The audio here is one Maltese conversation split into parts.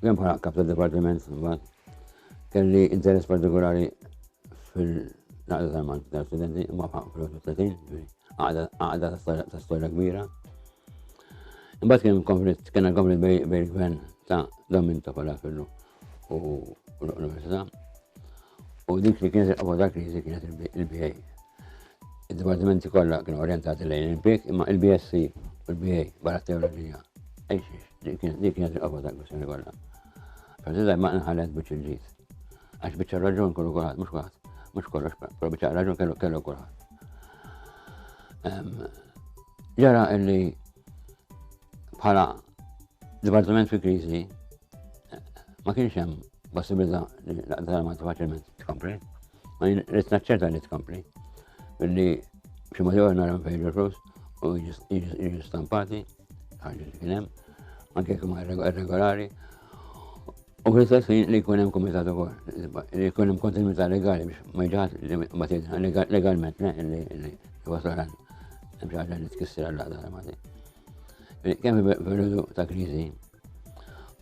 Kemm bħala kap ta' dipartiment imbagħad kelli interess partikolari fil-naqda tal-Malti tal-studenti imma fil-30 għaqda ta' storja kbira. Imbagħad kien konflitt, kien konflitt bejn il-gvern ta' Domin ta' Palafillu u l-Università. U dik li kienet il-qofol ta' kriżi kienet il-BA. Id-dipartimenti kollha kienu orientati lejn il-BIK imma il-BSC u l-BA barra teoloġija. Ejxiex. Dik kienet il-qofol tal-kwistjoni kollha. Preżida ma nħallet biex il-ġid. Għax biċċa raġun kollu kulħadd, mhux kulħadd, mhux kollox, però biċċa raġun kellu kellu kulħadd. Ġara illi bħala dipartiment fi kriżi ma kienx hemm possibilità li l-aqdar ma faċilment tkompli. Għajn, rrit naċċerta li tkompli. Billi xi ma jgħu nara fejn il-flus u jiġi stampati, ħagġa li kienem, anke kum regolari. U fl-istess ħin li jkun hemm kumitat ukoll, li jkun hemm kontinuità legali biex ma jġaħat li ma tidħa legalment le li wasal għal hemm xi ħaġa li tkissir għal laqda mati. Kemm fil-periodu ta' kriżi,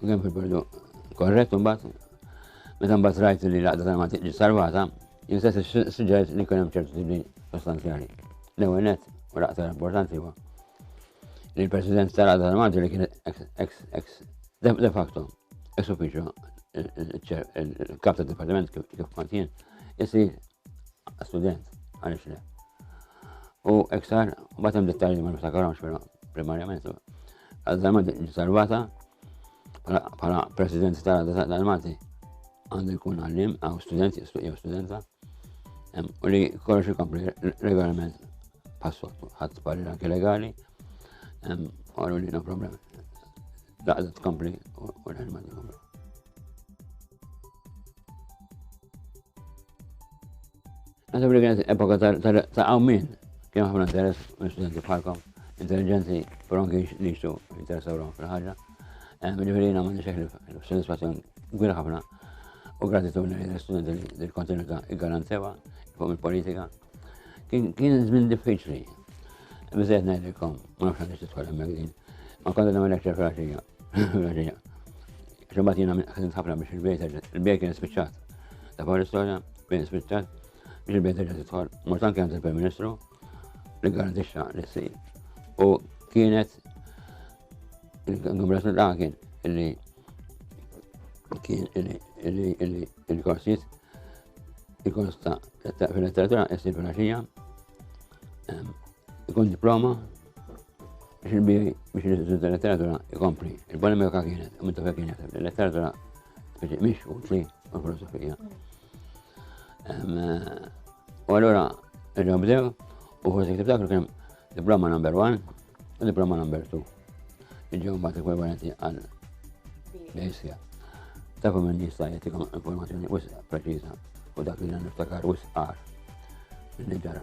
Kemm fil-perdu korrett imbagħad meta mbagħad rajt li l-għaqda tal mantiq ġiet salvata, jintesa s-suġġett li kien hemm ċertu tibdil sostanzjali. L-ewwel nett, u l-aktar importanti huwa li l-President tal-għaqda tal mantiq li kien ex de facto ex uffiċċju il-kap tad dipartiment kif kont jien, isir student għaliex le. U iktar, batem dettalji ma niftakarhomx però primarjament. Għal-darba ġiet salvata bħala president tal-għadda tal-Malti għandu jkun għallim għaw student jew studenta u li kollox ikompli regolarment passottu ħadd parir anke legali għallu li no problem. Daqda tkompli u l-ħelma tkompli. Għandu brigħet epoka ta' għawmin, kien ħafna interess minn studenti bħalkom, intelligenti, però anki li jixtu interessaw rom fil-ħagġa. Eh, Ġifiri jina ma nixeħ l-soddisfazzjon gwir ħafna u gratitudni li studenti li l-kontinuità garantewa fuq il-politika. Kien żmien diffiċli. Bizzejt ngħidilkom, ma nafx għandix titħol hemmhekk din. Ma kont nagħmel lecture fil-għaxija, Xumbat jina minn għasin sabra biex il-bejt il-bejt kien spiċċat. Ta' fuq l-istoria, bejt spiċċat, biex il-bejt reġa titħol. Mortan kienet il-Prim Ministru li garantixxa li s U kienet il-Kongress l-Għakin illi kien illi il-korsijiet il-kors ta' fil-letteratura jessir fil-axija ikun diploma Biex il-biri, biex il-letteratura ikompli, il-polemika kienet, u mintu kien jaħseb, il-letteratura speċi miex u tli u l-filosofija. U għallura, irġaw bdew, u forse ktib dak kien diploma number one u diploma number two. Iġġew mbagħad ekwivalenti għal bejsija. Ta' kum nista' jagħtikom informazzjoni wisq preċiża u dak li niftakar wisq qar. Nġara.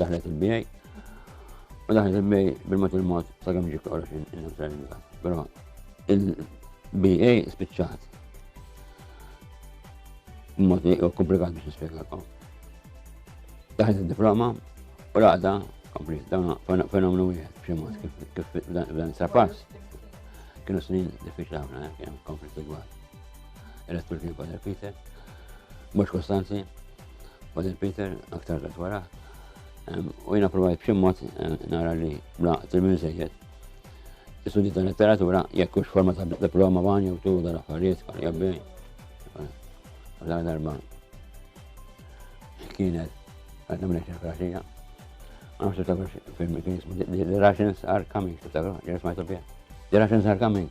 Daħlet il-bijaj, u daħlet il-bijaj bil-mat il-mat sa' għamġi kora xin il-niftar il-bijaj. Pero il-bijaj spiċċat. Mod li komplikat biex nispiegakom. Daħlet il-diploma, u raqda, komplis, dawna fenomenu wieħed b'xi mod kif dan sa' pass. Kienu snin diffiċli ħafna, eh, kien komplis igwal. Elettur kien Father Peter, mhux Kostanzi, Father Peter aktar dat wara. U jina provajt b'xi mod eh, nara li bla tilmin sejjed. Istudji ta' letteratura jekk hux forma ta' diploma wan jew tu dan affarijiet kan jabbi. Għal darba kienet għadna minn eċċa fraxija. Għam xibta kux film kien jismu The Russians Are Coming, xibta kux, jismajtu bija. The Russians Are Coming.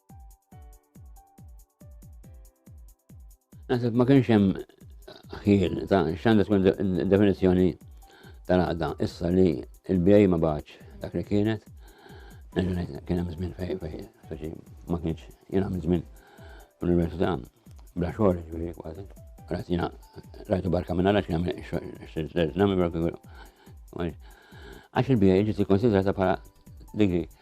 Naħseb ma kienx hemm ħin ta' x'għandha tkun definizzjoni tal-għaqda issa li l-bjej ma baċ dak li kienet. Kien hemm żmien fej fej, soċi ma kienx jien għamil żmien l-università bla xogħol ġifieri kważi. Rajt jiena rajtu barka minn għalax jagħmel xogħol nagħmel barka Għax il-bjej ġiet ikkonsidrata bħala digri.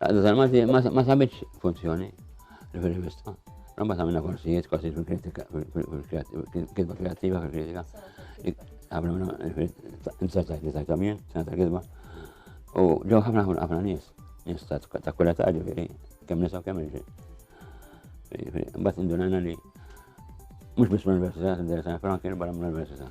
Għadda tal-Malti ma sabitx funzjoni fil-rivista. Rabba ta' minna korsijiet, korsijiet fil-kritika, fil-kitba kreativa, fil-kritika. Għabra minna, n-sartajt li tajta mien, sena kitba U ġew ħafna ħafna ħafna nies, nies ta' kulla ta' ġifiri, kem nisa u kem irġi. Bat indunajna li mux bis l-università, t-interessana, frankin barra l-università.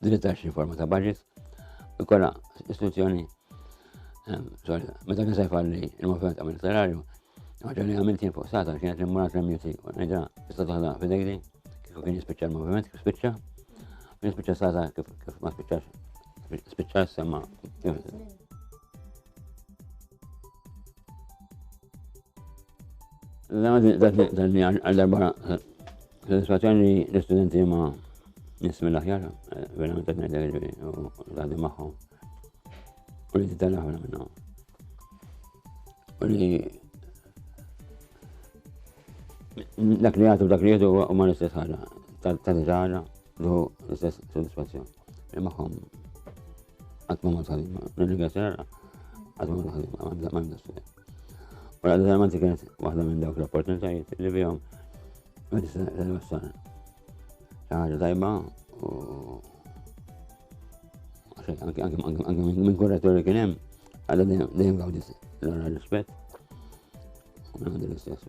Dritt għal xi forma ta' budget ikolla istituzzjoni meta kien se jfalli il-moviment amministrarju, ħaġa li għamilt jien fuq sata kienet li mmur l-MUT u ngħidha tista' taħda f'idejdi kif kien jispiċċa l-moviment kif spiċċa, kien jispiċċa sata kif ma spiċċax spiċċa semma Dan li għal darba soddisfazzjoni l-istudenti ma nismi l-aħjar, eh, verament qed ngħidlek ġifieri u tgħaddi magħhom. U li titgħallem ħafna minnhom. U li dak li jagħtu dak li jieħdu huma l-istess ħaġa, ta' tagħna, l-istess soddisfazzjoni. Imħom. Għatmu ma tħalima. Nirringa serra. Għatmu ma tħalima. Ma għandha s-sena. U għadda tal-manti kienet waħda minn dawk l-opportunitajiet li bihom. Għadda tal-wassar. ħaġa tajba u. Anke minn kurratori kien hemm. Għadda dejjem għawdis l-għara rispett. U għadda l-istess.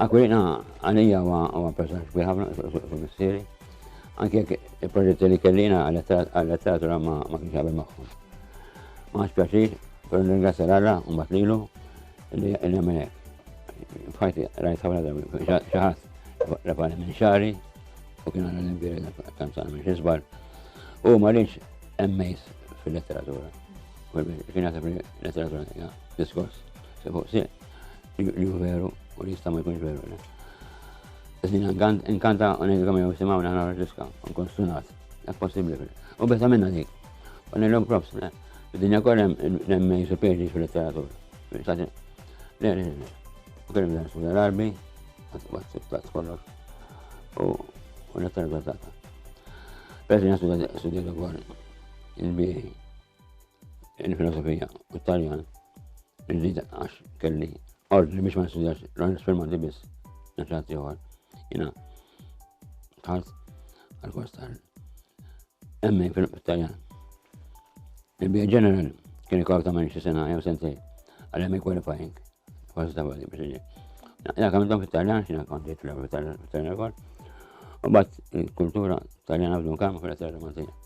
Aquilina għalija huwa personaġġ kbir ħafna fuq missieri, anke jekk il-proġetti li kellina għal-letteratura ma kienx qabel magħhom. Ma għax pjaċir, però nirringrazzja l-Alla u mbagħad lilu li nagħmel hekk. F'ħajti rajt ħafna drabi xi ħadd refani minn xari u kien għandna l-imbiri tant sa minn xisbar u ma rridx emmejs fil-letteratura. Kien jaħseb li letteratura hija diskors se fuq sieq. Li hu veru, u li jista' ma jkunx veru le. Iżdin inkanta u ngħidu kemm jew simgħu naħna rġiska, nkun stunat, hekk possibbli fil. U besa minna dik. U nillhom props, le. Id-dinja kollha hemm superġi fil-letteratur. Le, le, le. U kellem dan suda l-arbi, għat kollox. U letteratur tagħta. Persi nasuda suda l-għor, il-biħi. il-filosofija u t-Taljan, li għax kelli ordni biex ma nistudjax l-għanis firmati biss, naxħat jħor, jina tħalt għal-kors tal emmi fil-Taljan. Il-bija ġeneral kien ikor ta' manċi sena jew sentej, għal-emmi qualifying, kors ta' għadi biex iġi. Ja kamiltom fil-Taljan, xina konti fil-Taljan kol, u bat il-kultura Taljana b'dun kam fil-Taljan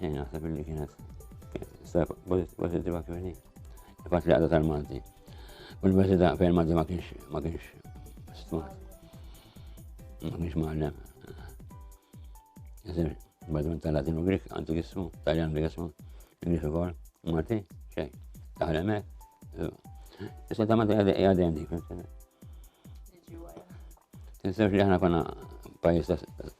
Jien naħseb li kienet pozittiva kif Il-fatt li għadha tal-Malti. U l-Malti da fejn Malti ma kienx ma kienx stmat. Ma kienx maħlem. Jisir, badman tal-Latinu Grik, għandu jissu, Taljan Grik jissu, Grik ukoll, Malti, xej, taħlemek. Issa ta' Malti għadem dik. Tinsewx li ħana konna pajis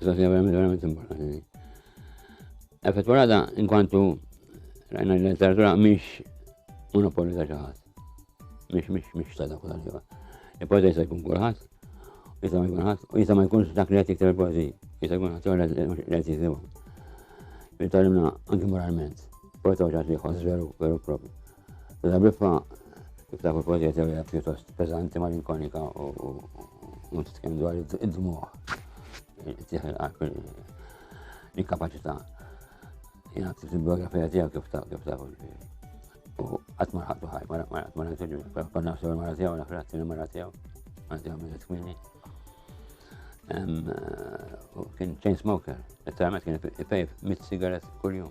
Sofia verament verament importanti. Effettuata in quanto rajna l-letteratura mhix monopolju ta' xi ħadd. Mhix mhix mhix ta' dak kulħadd. Il-poeta jista' jkun kulħadd, jista' ma jkun ħadd, u jista' ma jkunx dak li qed jikteb il-poeżiji, jista' jkun ħadd li qed jiktibhom. Jitgħallimna anke moralment. Poeta ġat li jħoss veru veru propju. L-Agrippa kif tafu pożiet hija pjuttost peżanti malinkonika u mhux titkellem dwar id-dmuħ. Tieħel qalb il-kapaċità. Jena ktibt il-biografija tiegħu kif tafu kif tafu U qatt ma ħaqtu ħaj, ma qatt ma ħaqtu ġu, ma nafx il-mara tiegħu, nafx il-tieni mara tiegħu, għandi għam iżet kmini. Kien chain smoker, it-tamet kien ipejf mit sigaret kull-jum.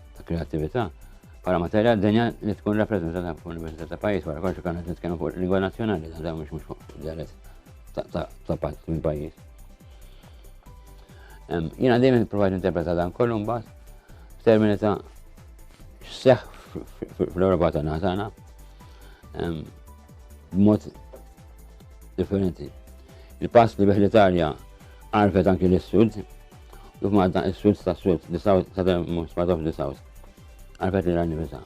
ta' kreativita' bħala materja d-dinja li tkun rappreżentata f'università ta' pajjiż wara kollox kan qed nitkellmu fuq lingwa nazzjonali ta' dawn mhux mhux fuq dialett ta' pajjiż minn pajjiż. Jiena dejjem provajt interpreta dan kollu mbagħad f'termini ta' x'seħħ fl-Ewropa tagħna tagħna b'mod differenti. Il-pass li bih l-Italja għarfet anki l-Sud Kif Malta is-Swift ta' Swift, the South ta' the most part of the South. Għalfet li għanni bisa.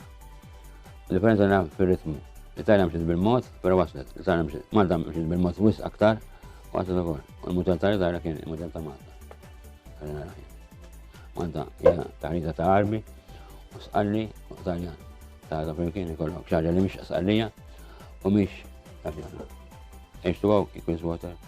Differenza għanna fil-ritmu. L-Italja mxiet bil-mod, pero waslet. L-Italja mxiet, Malta mxiet bil-mod wis aktar, waslet ukoll. U l-modell ta' l-Italja kien il-modell ta' Malta. Malta hija taħrita ta' armi, u sqalli u Italja ta' ta' flimkien ikollok xaġa li mhix sqallija u mhix għabjana. H2O equals water.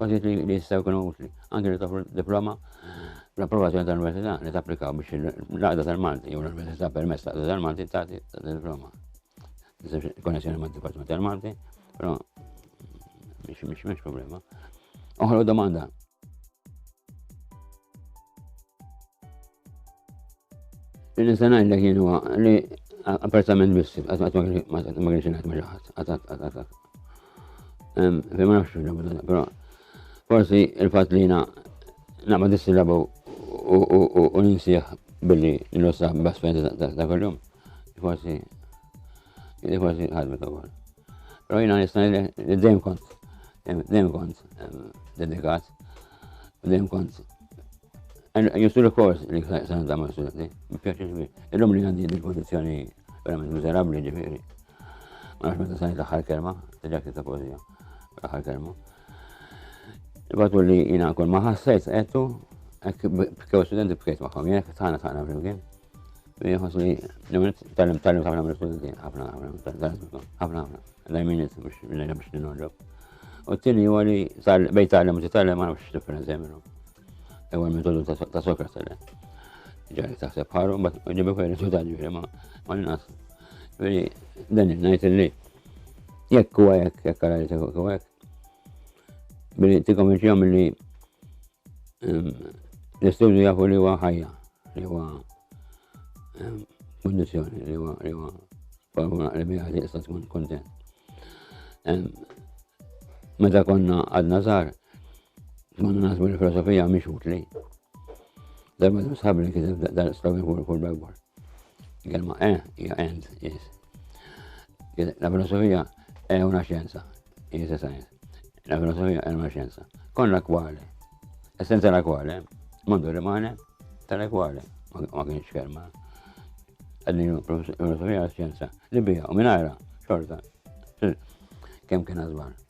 Kważi li jistgħu jkunu utli, anke li toffru diploma l-approvazzjoni tal-università li tapplikaw biex l-għaqda tal-Malti jew l-università permess tal-għaqda tal-Malti tagħti diploma. Konnessjoni ma' dipartiment tal-Malti, però mhix mhix problema. Oħra domanda. Il-nistanajn li kienu li appartament biss, għat ma kienx għat ma ġaħat, għat għat għat għat. Fejn ma nafx però forsi il-fatt li jiena naqma dissilabu u ninsieħ billi nlossa bas fejn ta' kuljum. Forsi forsi ħadmet ukoll. Però jiena nista' li dejjem kont dejjem kont dedikat, dejjem kont Justu l-kors li s-sanza ma' s-sanza, biex Il-lum li għandi il-kondizjoni verament miserabli ġifiri. Għax meta sajt l-aħħar kelma, ġakti ta' pożija, l-aħħar kelma. Ibatu li jina kull ma ħassajt għettu, bkew studenti bkejt maħħom, jek tħana tħana flimkien. Jħos li l-għunet tal-lim tal-lim ħafna mill studenti, ħafna ħafna, ħafna ħafna, l-għajminiet biex l-għajna biex n-nħoġob. U t-tini huwa li bejt tal-lim u t-tal-lim għana biex differenza jeminu. Ewa l-metodu ta' sokra sele. Ġari ta' separ, un bat ġibu kwe risultat ġifiri ma' għannas. Veri, dan il-najt li jekk kuwa jekk, jekk għara li tekku kuwa jekk. Veri, ti komenċi għam li ehm, l-istudju jafu li huwa ħajja, li huwa ehm, kondizjoni, li huwa li huwa formula li bija li jista' tkun kontent. Ehm, meta konna għadna żgħar, Mandu naħsbu li filosofija mhix utli. Darba nisħab li kiteb dan istawi fuq kull bejwar. Kelma e hija end is. La filosofija e una xjenza, is a science. La filosofija e una xjenza. Konna kwale. Essenza la kwale, mandu rimane tale kwale. Ma kienx kelma. Għadni filosofija xjenza. Li bija u minajra, xorta. Kem kien għazbar.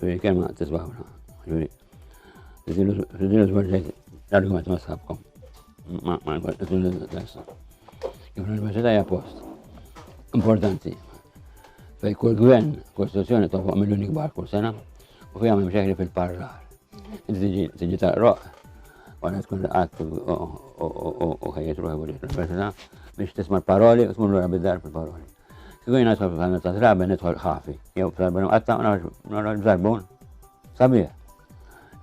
Ġuri, kelma tisbawna. Ġuri, rridu zbarġajt l-argument ma sabkom. Ma, ma, ma, Kif l-Università hija post importanti fej kull gvern kostituzzjoni toħloq miljoni kbar kull sena u fija minn xejn fil-parlar. Tiġi taqroq għana tkun għat u ħajjet ruħi l-Università biex tisma' l-paroli u tmur l-għabidar fil-paroli. Kieku jien nidħol fil-ħanut ta' trabi nidħol ħafi, jew fl-arbun imqatta' u noħroġ b'żarbun sabiħ.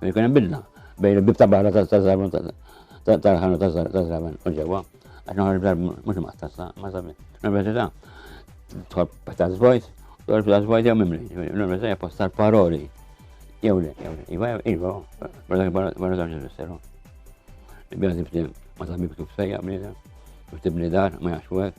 Li jkun hemm bidla bejn il-bib ta' barra ta' żarbun tal-ħanut ta' żraben u ġewwa, għax noħroġ b'żarbun mhux imqatta' sa ma sabiħ. L-università tħol ta' żvojt, tħol ta' żvojt jew mimli, l-università hija post tal-paroli jew le, jew le, iva, iva, barra żewġ ifisseru. Bjażi btim, ma sabiħ kif sejja bniedem, btim li dar, ma jaxwek,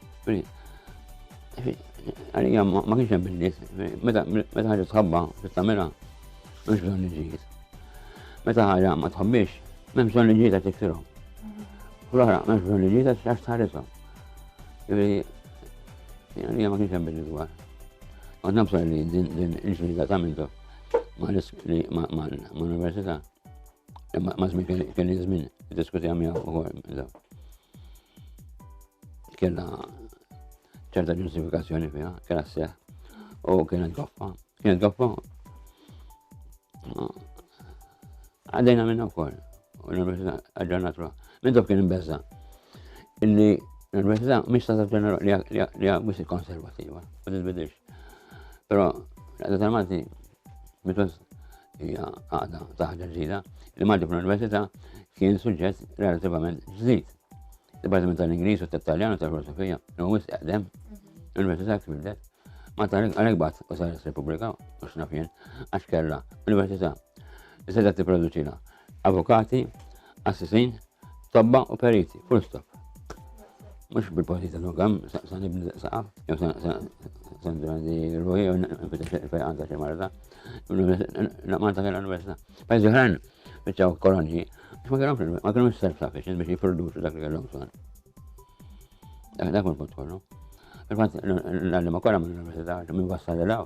Għalija ma kienx hemm in-nies, meta ħaġa tħabba tagħmilha mhux bżonn iġġiet. Meta ħaġa ma tħabbix, m'hemm bżonn iġġiet għax tikfirhom. U l-oħra m'hemmx bżonn iġġiet għax għax tħarishom. Għalija ma kienx hemm bil dwar. Għad nabsa li din il-ġlida ta' mintu ma' l-università. Ma' żmien kelli żmien diskutija miegħu ukoll. Kena ċerta ġustifikazzjoni fiha, kena seħ u kena goffa. Kena goffa. Għaddejna minna wkoll. U l-Università għagġarna truħ. Minn dok kien imbezza. Illi l-Università mhix ta' ġenera li hija mhux konservativa, ma titbidilx. Però l-għadda tal-Malti Mitos hija għaqda ta' ħaġa ġdida li maġġob l-Università kien suġġett relativament ġdid. Dipartiment tal-Ingliż u tat-Taljan u tal-Filosofija li huwa wisq eqdem l-Università tibdet ma tal għalhekk bat u saret Repubblika u x'naf jien għax kellha Università li seta' tipproduċina avukati Qassisin, tobba u periti, full stop. Mux bil-posti ta' nogam, sa' nibni saqaf, jew sa' ndrandi ruħi, jew nfitax il-fejqan ta' xi marda. Naqman ta' kena l-università. Pajzi ħran, bieċaw kolonji, ma kellhomx ma kellhomx self sufficient biex jipproduċu dak li kellhom bżonn. Dak dak il-punt kollu. Il-fatt l-għallima kollha mill-università minn wassal l-għaw.